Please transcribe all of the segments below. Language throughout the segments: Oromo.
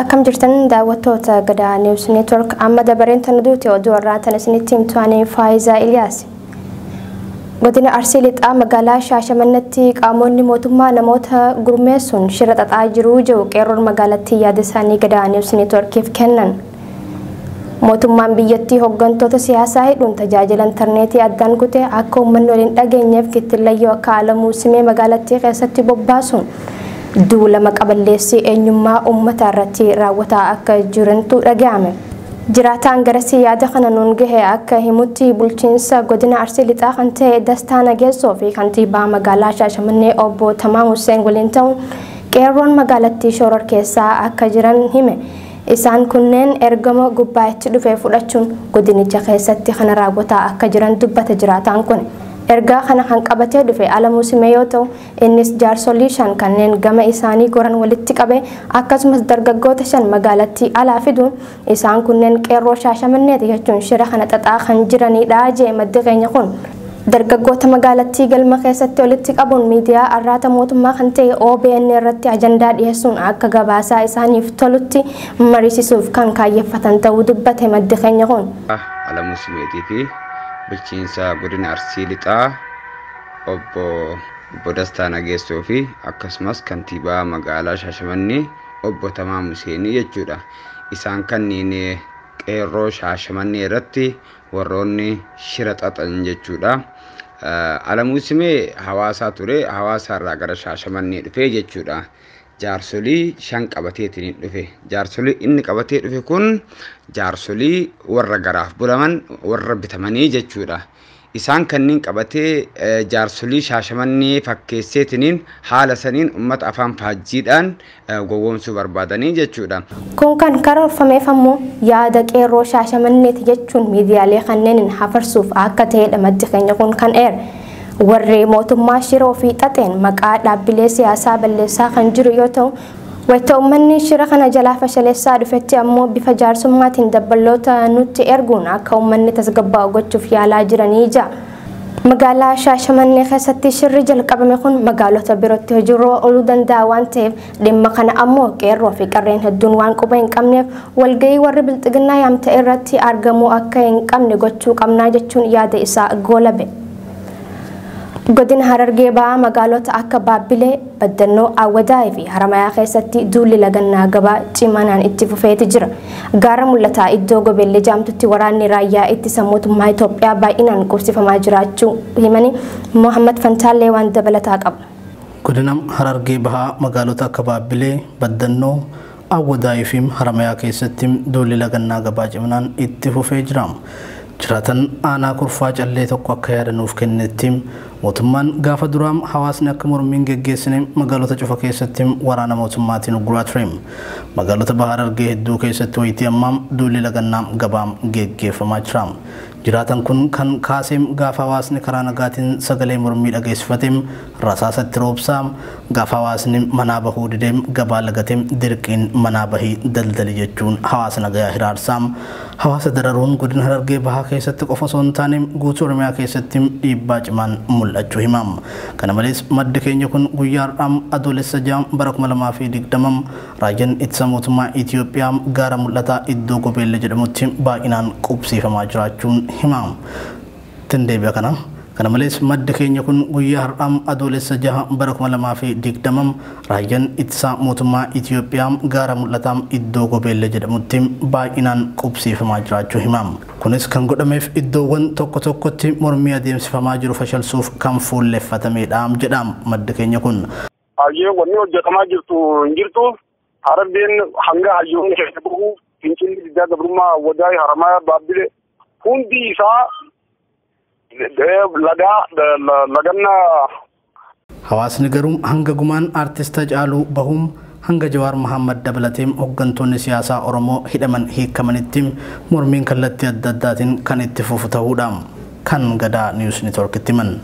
Akkam jirtan daawwattoota Gadaa News Network amma dabareen tan duute oduu irraa tan isinitti himtu ani Faayizaa Iliyaas. Godina Arsii Lixaa magaalaa Shaashamannetti qaamonni mootummaa namoota gurmeessuun shira xaxaa jiruu jiru qeerroon magaalattii yaada isaanii Gadaa News Networkiif kennan. Mootummaan biyyattii hoggantoota siyaasaa hidhuun tajaajila intarneetii addaan kute akka uummanni wal hin dhageenyeef kittillayyoo akka Alamuu Simee magaalattii keessatti bobbaasuun duula maqa balleessii eenyummaa uummataa irratti raawwataa akka jirantu dhaga'ame. Jiraataan garasii yaada kana nuun gahe akka himutti bulchiinsa godina Arsii Lixaa kan ta'e Dastaa Nageessoo fi kantiibaa magaalaa Shaashamannee obbo Tamaam Husseen waliin ta'uun qeerroon magaalattii shororkeessaa akka jiran hime. Isaan kunneen ergama gubbaa itti dhufe fudhachuun godinicha keessatti kana raawwataa akka jiran dubbata jiraataan kun. Ergaa kana kan qabatee dhufe Alamuu Simee yoo ta'u, innis jaarsolii shan kanneen gama isaanii goran walitti qabee akkasumas dargaggoota shan magaalattii alaa fiduun isaan kunneen qeerroo Shaashamanneeti jechuun shira kana xaxaa kan jiraniidha jedhe maddi keenya kun. Dargaggoota magaalattii galma keessatti walitti qabuun miidiyaa arraata mootummaa kan ta'e obn irratti ajandaa dhiyeessuun akka gabaasaa isaaniif tolutti mariisisuuf kan kaayyeffatan ta'uu dubbate maddi keenya kun. Alamuu Simeetii fi Bulchiinsa Godina Arsii Lixaa Obbo Obbo Dastaa Nageessoo fi akkasumas Kantiibaa Magaalaa Shaashamannee Obbo Tamaam Huseenii jechuudha. Isaan kanniin Qeerroo Shaashamannee irratti warroonni shira xaxan jechuudha. Alamuu Simee hawaasaa ture hawaasaarraa gara shaashamannee dhufe jechuudha. Jaarsolii shan qabateetiin dhufe. Jaarsolii inni qabatee dhufe kun jaarsolii warra garaaf bulaman warra bitamanii jechuudha. Isaan kanneen qabatee jaarsolii shaashamannee fakkeesseetiniin haala saniin ummata afaan faajjiidhaan gowwoomsuu barbaadanii jechuudha. Kun kan karoorfameef ammoo yaada qeerroo Shaashamanneeti jechuun miidiyaalee kanneeniin hafarsuuf akka ta'edha maddi keenya kun kan eere. Warri mootummaa shiroo fi xaxeen maqaa dhaabbilee siyaasaa balleessaa kan jiru yoo ta'u, wayita ummanni shira kana jalaa fashaleessaa dhufetti ammoo bifa jaarsummaatiin dabballoota nutti erguun akka ummanni tasgabbaa'u gochuuf yaalaa jiranii ja'a. Magaalaa Shaashamannee keessatti shirri jalqabame kun magaalota birootti hojiirra ooluu danda'a waan ta'eef dhimma kana ammoo qeerroo fi qarreen hedduun waan quba hin qabneef walga'ii warri bilxiginnaa yaamte irratti argamuu akka hin qabne gochuu qabnaa jechuun yaada isaa goolabe. Godina Harargee Bahaa magaalota akka Baabbilee, Baddannoo, Awwadaay fi Haramayaa keessatti duulli lagannaa gabaa cimanaan itti fufeeti jira. Gaara Mul'ataa iddoo Gobelle jaamtutti waraanni raayyaa ittisa mootummaa Itoophiyaa baay'inaan qubsifamaa jiraachuu himanii Mohaammad Fantaallee waan dabalataa qabu. Godina Harargee Bahaa magaalota akka Baabbilee, Baddannoo, Awwadaay fi Haramayaa keessatti duulli lagannaa gabaa ciminaan itti fufee jira. Jiraataan aanaa Kurfaa Callee tokko akka yaada nuuf kennetti, mootummaan gaafa duraa hawaasni akka mormii hin geggeessine magaalota cufa keessatti waraana mootummaatiin ugguraa ture. Magaalota Baha Harargee hedduu keessatti wayitii ammaa duulli lagannaa gabaa geggeeffamaa jira. Jiraataan kun kan kaase gaafa hawaasni karaa nagaatiin sagalee mormii dhageessifate, Rasaasa itti roobsaa. Gaafa hawaasni manaa bahuu dide, gabaa lagate dirqiin manaa bahi daldali jechuun hawaasa nagayaa hiraarsa. Hawaasa dararuun Godina Harargee Bahaa keessatti qofa osoo hin taane guutuu Oromiyaa keessatti dhiibbaa cimaan mul'achuu hima. Kana malees maddi keenya kun guyyaa har'aa Adoolessa 6 bara 2020 Raayyaan Ittisa Mootummaa Itiyoophiyaa Gaara Mul'ataa iddoo Gobeelle jedhamutti baay'inaan qubsiifamaa jiraachuu hima. tin deebi'a kana. Kana malees maddi keenya kun guyyaa har'aa Adoolessa 6 bara 2020 Raayyan Ittisaa Mootummaa Itiyoophiyaa Gaara Mul'ataa iddoo Gobeelle jedhamutti baay'inaan qubsiifamaa jiraachuu hima. Kunis kan godhameef iddoowwan tokko tokkotti mormii adeemsifamaa jiru fashalsuuf kan fuulleffatameedha jedha maddi keenya kun. Hayyee wanni hojjatamaa jirtu hin jirtu. Harargeen hanga hayyoonni keessa bahu fincilli diddaa gabrummaa Awwadaay Haramaayaa Baabbilee hundi isaa lagaa laganna. Hawaasni garuu hanga gumaan Artist Hacaaluu bahuum hanga Jawaar Mahaammad dabalatee hoggantoonni siyaasaa Oromoo hidhaman hiikamanitti mormiin kallattii adda addaatiin kan itti fufu tahuudha. kan Gadaa News Network'tti himan.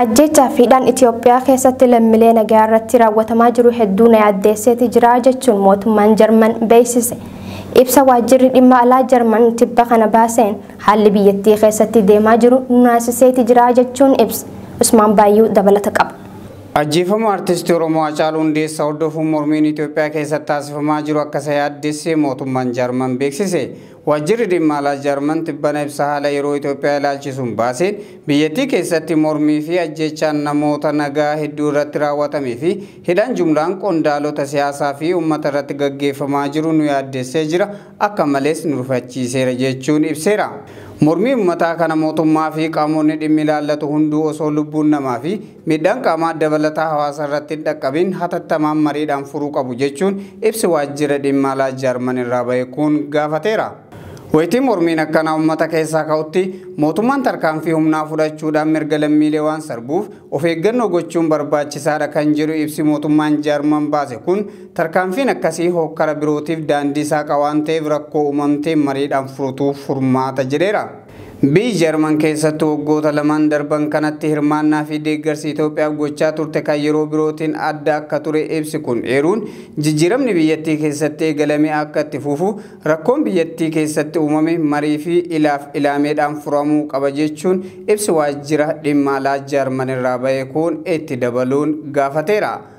Ajjeechaa fi hidhaan Itiyoophiyaa keessatti lammilee nagayaa irratti raawwatamaa jiru hedduu na yaaddeesseeti jira jechuun mootummaan Jarman beeksise. Ibsa waajjirri dhimma alaa Jarman tibba kana baaseen haalli biyyattii keessatti deemaa jiru nu naasiseeti jira jechuun ibse. Usmaan Baayyuu dabalata qaba. Ajjeefamuu Artistii Oromoo Hacaaluu Hundeessaa hordofuun mormiin Itiyoophiyaa keessatti taasifamaa jiru akka isa yaaddesse mootummaan Jarman beeksise. Waajjirri Dhimma Alaa Jarman tibbana ibsa haala yeroo Itoophiyaa ilaalchisuun baaseen, biyyattii keessatti mormii fi ajjeechaan namoota nagaa hedduu irratti raawwatamee fi hidhaan jumlaan qondaalota siyaasaa fi uummata irratti gaggeeffamaa jiru nu yaaddessee jira, akka malees nu rifachiiseera jechuun ibseera. Mormii uummataa kana mootummaa fi qaamonni dhimmi ilaallatu hunduu osoo lubbuun namaa fi Miidhaan qaamaa dabalataa hawaasa irratti hin dhaqqabin hatattamaan mariidhaan furuu qabu jechuun ibsi waajjira dhimma alaa Jarman irraa bahe kun gaafateera. Wayitii mormiin akkanaa ummata keessaa ka'utti mootummaan tarkaanfii humnaa fudhachuudhaan mirga lammiilee waan sarbuuf of eeggannoo gochuun barbaachisaadha kan jedhu ibsi mootummaan Jarman baase kun tarkaanfiin akkasii hookkara birootiif daandii saaqa waan ta'eef rakkoo uumamte mariidhaan furutu furmaata jedheera. Biyyi Jarman keessattu waggoota lamaan darban kanatti hirmaannaa fi deeggarsi Itoophiyaaf gochaa turte kan yeroo birootiin adda akka ture ibsi kun eeruun, jijjiiramni biyyattii keessatti eegalame akka itti fufu, rakkoon biyyattii keessatti uumame marii fi ilaaf ilaameedhaan furamuu qaba jechuun ibsi Waajjira Dhimma Alaa Jarman irraa bahe kun itti dabaluun gaafateera.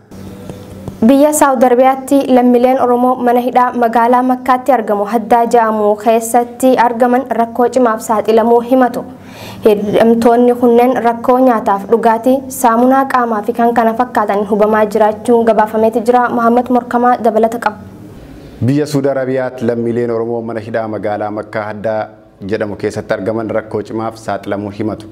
Biyya Saawud Arabiyaatti lammileen Oromoo mana hidhaa magaalaa Makkaatti argamu Haddaa ja'amu keessatti argaman rakkoo cimaaf saaxilamuu himatu. Hidhamtoonni kunneen rakkoo nyaataaf dhugaatii, saamunaa qaamaa fi kan kana fakkaatan hubamaa jiraachuun gabaafameeti jira. Muhammad Morkamaa dabalata qaba. Biyya Suud Arabiyaatti lammiileen Oromoo mana hidhaa magaalaa Makkaa Haddaa jedhamu keessatti argaman rakkoo cimaaf saaxilamuu himatu.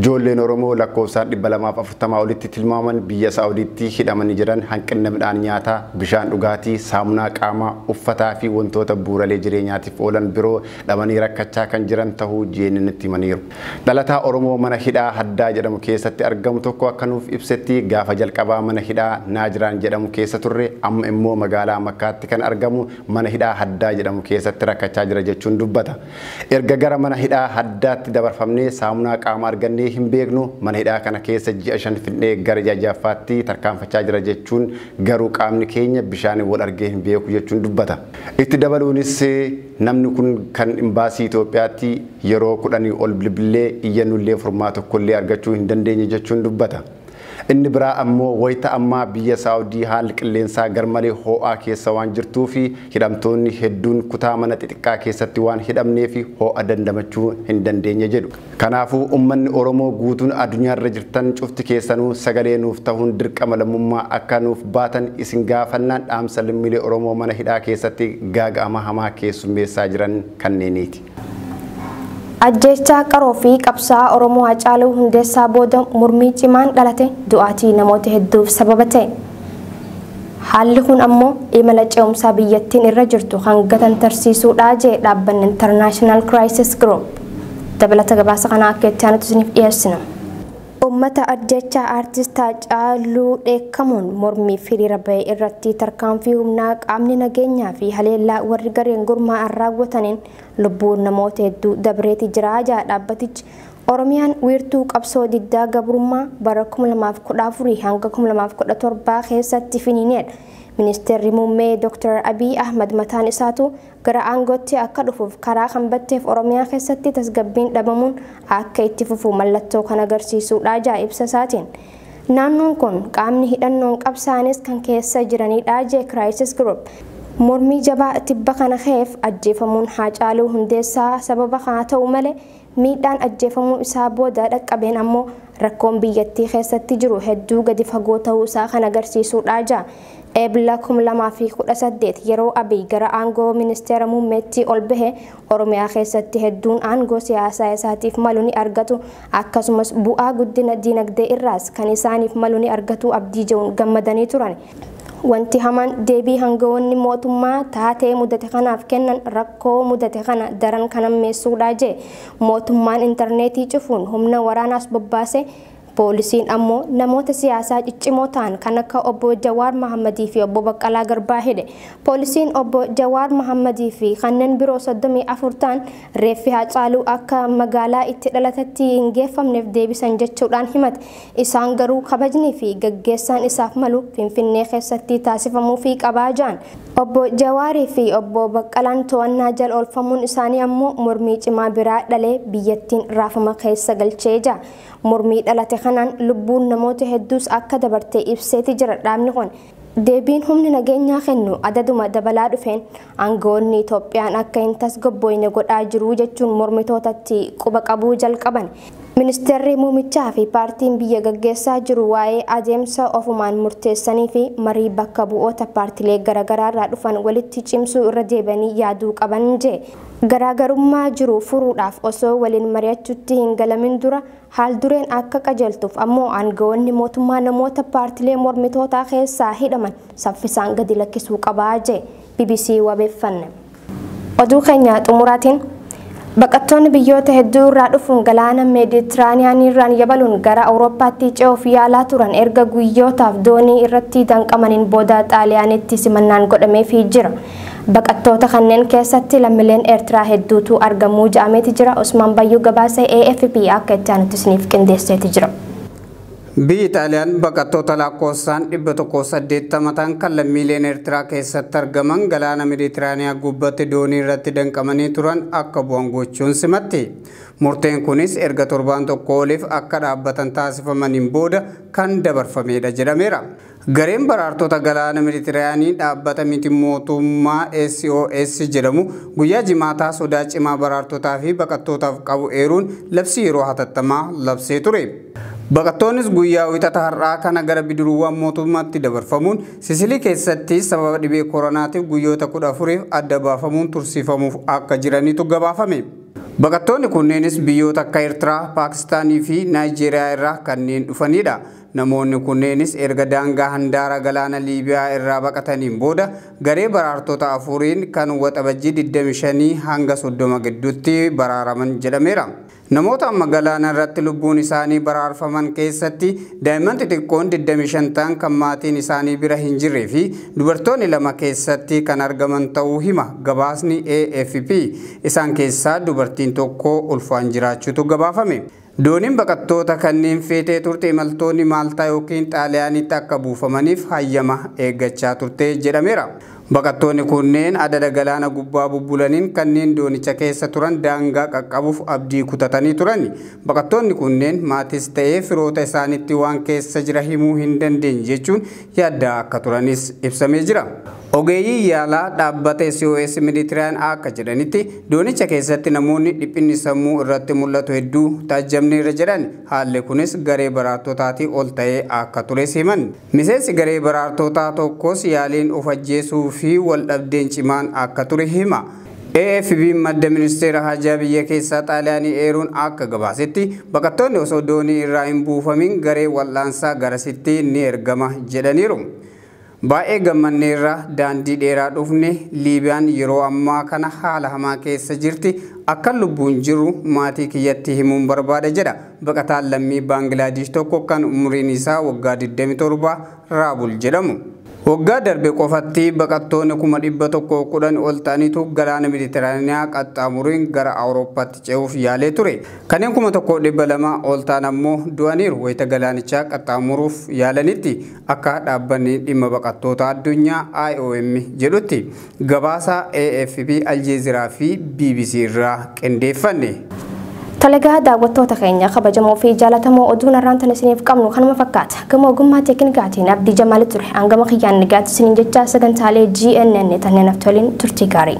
Joolleen Oromoo lakkoofsaan 240 olitti tilmaaman biyya Saa'udiitti hidhamanii jiran hanqinna midhaan nyaataa, bishaan dhugaatii, saamunaa qaamaa, uffataa fi wantoota buuralee jireenyaatiif oolan biroo dhabanii rakkachaa kan jiran tahuu GNNtti himaniiru. Dhalataa Oromoo mana hidhaa Haddaa jedhamu keessatti argamu tokko akka nuuf ibsetti gaafa jalqabaa mana hidhaa Naajiraan jedhamu keessa turre amma immoo magaalaa Makkaatti kan argamu mana hidhaa Haddaa jedhamu keessatti rakkachaa jira jechuun dubbata. Erga gara mana hidhaa Haddaatti dabarfamnee saamunaa qaamaa argannee hin beeknu, mana hidhaa kana keessa ji'a shan fixnee gara ji'a ja'affaatti tarkaanfachaa jira jechuun garuu qaamni keenya bishaaniin wal argee hin beeku jechuun dubbata. Itti dabaluunis namni kun kan Imbaasii Itoophiyaatti yeroo kudhanii ol bilbillee iyyannullee furmaa tokkollee argachuu hin dandeenye jechuun dubbata. Inni biraa ammoo wayita ammaa biyya Saawudii haalli qilleensaa garmalee hoo'aa keessa waan jirtuufi hidhamtoonni hedduun kutaa mana xixiqqaa keessatti waan hidhamneefi hoo'a dandamachuu hin dandeenye jedhu. Kanaafuu ummanni Oromoo guutuun adunyaarra jirtan cufti keessanuu sagalee nuuf tahuun dirqama lammummaa akka nuuf baatan isin gaafannaan dhaamsa lammiilee Oromoo mana hidhaa keessatti gaaga'ama hamaa keessummeessaa jiran kanneeniiti. Ajjeechaa qaroo fi qabsaa'aa Oromoo Hacaaluu Hundeessaa booda mormii cimaan dhalate du'aatii namoota hedduuf sababa ta'e. Haalli kun ammoo imala ce'umsaa biyyattiin irra jirtu kan gatantarsiisuudha jedhe dhaabbanni International Crisis Group. Dabalata gabaasa kanaa akka itti aanutti isiniif dhiyeessina. Ummata ajjeechaa Artist Haacaaluu dheekkamuun mormiif hiriira bahe irratti tarkaanfii humnaa qaamni nageenyaa fi haleellaa warri gareen gurmaa'an raawwataniin lubbuun namoota hedduu dabreeti jira jedha dhaabbatichi. Oromiyaan wiirtuu qabsoo diddaa gabrummaa bara 2014-2017 keessatti finiineedha. Ministeerri Muummee Dr. Abiy Ahmad mataan isaatuu gara aangootti akka dhufuuf karaa kan batteef Oromiyaa keessatti tasgabbiin dhabamuun akka itti fufu mallattoo kan agarsiisuudha ja'a ibsa isaatiin. Naannoon kun qaamni hidhannoon qabsaa'anis kan keessa jiranidha jee Crisis Group. Mormii jabaa tibba kana ka'eef ajjeefamuun Haacaaluu Hundeessaa sababa haa ta'u malee Miidhaan ajjeefamuu isaa booda dhaqqabeen ammoo rakkoon biyyattii keessatti jiru hedduu gadi fagoo ta'uu isaa kan agarsiisuudha ja Ebla 2018 yeroo Abiy gara aangoo Ministeera Muummeetti ol bahe Oromiyaa keessatti hedduun aangoo siyaasaa isaatiif malu ni argatu akkasumas bu'aa guddina diinagdee irraas kan isaaniif malu ni argatu abdii je'uun gammadanii turan. Wanti hamaan deebii hangawoonni mootummaa taatee mudate kanaaf kennan rakkoo mudate kana daran kan hammeessuudha jee. Mootummaan interneetii cufuun humna waraanaas bobbaase, poolisiin ammoo namoota siyaasaa ciccimoo ta'an kan akka Obbo Jawaar Mahammadii fi Obbo Baqqalaa Garbaa hidhe. Poolisiin Obbo Jawaar Mahammadii fi kanneen biroo 34 ta'an reeffi Haacaaluu akka magaalaa itti dhalatetti hin geeffamneef deebisan jechuudhaan himate. Isaan garuu kabajnii fi gaggeessaan isaaf malu Finfinnee keessatti taasifamuufii qaba jedhan. Obbo Jawaarii fi Obbo Baqqalaan to'annaa jala oolfamuun isaanii ammoo mormii cimaa biraa dhalee biyyattiin raafama keessa galchee jira. Mormii dhalate kanaan lubbuun namoota hedduus akka dabarte ibseeti jira dhaabni kun. Deebiin humni nageenyaa kennu adaduma dabalaa dhufeen aanga'oonni Itoophiyaan akka hin tasgabbooyne godhaa jiru jechuun mormitootatti quba qabuu jalqaban. Ministeerri Muumichaa fi paartiin biyya gaggeessaa jiru waa'ee adeemsa ofumaan murteessanii fi marii bakka bu'oota paartilee garagaraarraa dhufan walitti cimsuu irra deebi'anii yaaduu qaban jee. Garaagarummaa jiru furuudhaaf osoo waliin mari'achuutti hin galamin dura Haaldureen akka qajeeltuuf ammoo aangawoonni mootummaa namoota paartilee mormitootaa keessaa hidhaman saffisaan gadi lakkisuu qaba jee bbc wabeeffanne. Oduu keenya xumuraatiin Baqattoonni biyyoota hedduu irraa dhufuun galaana Meeditiraaniyaaniirraan yabaluun gara Awurooppaatti ce'uuf yaalaa turan erga guyyootaaf doonii irratti danqamaniin booda Xaaliyaanitti simannaan godhameefii jira. Baqattoota kanneen keessatti lammileen Eertiraa hedduutu argamu ja'ameeti jira. Usmaan Bayyuu gabaase AFP akka itti aanutti isiniif qindeesseeti jira. Biyyi Xaaliyaan baqattoota laakkoofsaan 180 ta'an kan lammiileen Eertiraa keessatti argaman galaana Meditiraaniyaa gubbatti doonii irratti danqamanii turan akka bu'an gochuun simatti. Murteen kunis erga torbaan tokko oliif akka dhaabbatan taasifamaniin booda kan dabarfameedha jedhameera. Gareen baraartota galaana Mediterayaanii dhaabbata miti mootummaa SOS jedhamu guyyaa Jimaataa sodaa cimaa baraartotaa fi baqattootaaf qabu eeruun labsii yeroo hatattamaa labsee ture. Baqattoonnis guyyaa Wixata har'aa kana gara bidiruuwwan mootummaatti dabarfamuun Sisilii keessatti sababa dhibee koronaatiif guyyoota 14f adda baafamuun tursiifamuuf akka jiranitu gabaafame. Baqattoonni kunneenis biyyoota akka Ertiraa, Paakistaanii fi Naayijeeriyaa irraa kanneen dhufaniidha. Namoonni kunneenis erga daangaa handaara galaana Liibiyaa irraa baqataniin booda garee baraartota afuriin kan Waxabajjii 25-30 gidduutti baraaraman jedhameera. Namoota amma galaana irratti lubbuun isaanii baraarfaman keessatti daa'imman xixiqqoon 25 ta'an kan maatiin isaanii bira hin jirree fi dubartoonni lama keessatti kan argaman ta'uu hima gabaasni AFP. Isaan keessaa dubartiin tokko ulfaan jiraachuutu gabaafame. Dooniin baqattoota kanneen feetee turte imaltoonni Maaltaa ykn Xaaliyaaniitti akka buufamaniif hayyama eeggachaa turte jedhameera. Baqattoonni kunneen adada galaana gubbaa bubbulaniin kanneen doonicha keessa turan daangaa qaqqabuuf abdii kutatanii turan. Baqattoonni kunneen maatis ta'ee firoota isaaniitti waan keessa jira himuu hin dandeenye jechuun yaaddaa akka turanis ibsamee jira. Ogeeyyiin yaalaa dhaabbata SOS Mediterranean akka jedhanitti, doonicha keessatti namoonni dhiphinni sammuu irratti mul'atu hedduu taajjabneerra jedhan. Haalli kunis garee baraartotaatii ol ta'ee akka tures himan. Miseensi garee baraartotaa tokkos yaaliin of ajjeesuu fi wal dhabdeen cimaan akka ture hima. AFP'n madda ministeera haajaa biyya keessaa Xaaliyaanii eeruun akka gabaasetti, baqattoonni osoo doonii irraa hin buufamiin garee wal'aansaa garasitti ni ergama jedhaniiru. Baay'ee gammanneerra, daandii dheeraa dhufne, Liibiyaan yeroo ammaa kana haala hamaa keessa jirti, akkan lubbuun jiru maatii kiyyatti himuun barbaada jedha baqataan lammii Baangilaadiish tokko kan umuriin isaa waggaa 27 Raabul jedhamu. Waggaa darbe qofatti baqattoonni 110,000 ol ta'anitu galaana Mediteraaniyaa qaxxaamuruin gara Awurooppaatti ce'uuf yaalee ture. Kanneen 1,200,000 ol ta'an ammoo du'aniiru wayita galaanichaa qaxxaamuruuf yaalanitti. Akka dhaabbanni dhimma baqattootaa addunyaa IOM jedhutti gabaasa AFP, Aljeeziraa fi bbc irraa qindeeffanne. Tole egaa daawwattoota keenya kabajamoo fi jaalatamoo oduun har'aan tan isiniif qabnu kanuma fakkaata. Gama ogummaa teeknikaatiin Abdii Jamaali ture. Hangama kiyyaan nagaatti isiniin jechaa sagantaalee GNN tan nanaftoliin turtii gaarii.